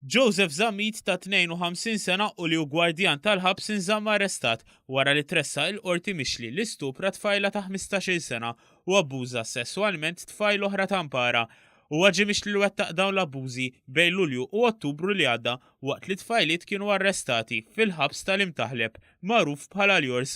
Joseph Zammit ta' 52 sena u li u gwardjan tal-ħabs inżamm arrestat wara li tressa il-qorti mixli li stupra tfajla ta' 15 sena u abbuża sesswalment tfajl oħra ta' mpara. U għagġi mixli li wettaq dawn l-abbużi bej Lulju u Ottubru li għadda waqt li tfajliet kienu arrestati fil-ħabs tal-Imtaħleb, magħruf bħala l-Jors.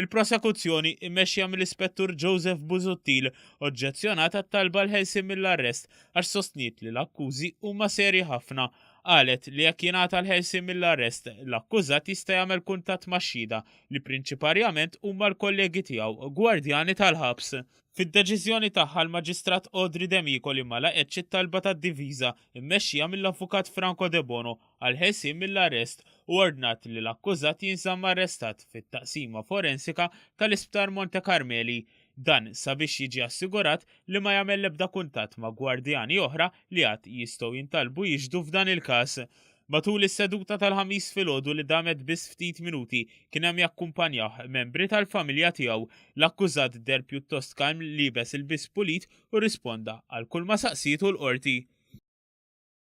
Il-prosekuzzjoni, immexxija mill-Ispettur Joseph Busuttil, oġġezzjonat għat-talba l-ħelsien mill-arrest għax sostniet li l-akkużi huma serji ħafna. Qalet li jekk jingħata l-ħelsien mill-arrest, l-akkużat jista' jagħmel kuntatt max-xhieda li prinċiparjament huma l-kollegi tiegħu, gwardjani tal-ħabs. Fid-deċiżjoni tagħha l-Maġistrat Audrey D'Amico li ma laqgħetx it-talba tad-difiża, immexxija mill-Avukat Franco Debono, għall-ħelsien mill-arrest u ordnat li l-akkużat jinżamm arrestat fit-Taqsima Forensika tal-Isptar Monte Karmeli, dan sabiex jiġi assigurat li ma jagħmel l-ebda kuntatt ma' gwardjani oħra li għad jistgħu jintalbu jixhdu f'dan il-każ. Matul is-seduta tal-Ħamis filgħodu li damet biss ftit minuti kien hemm jakkumpanjawh membri tal-familja tiegħu. L-akkużat deher pjuttost kalm, liebes ilbies pulit u rrisponda għal kulma saqsietu l-Qorti.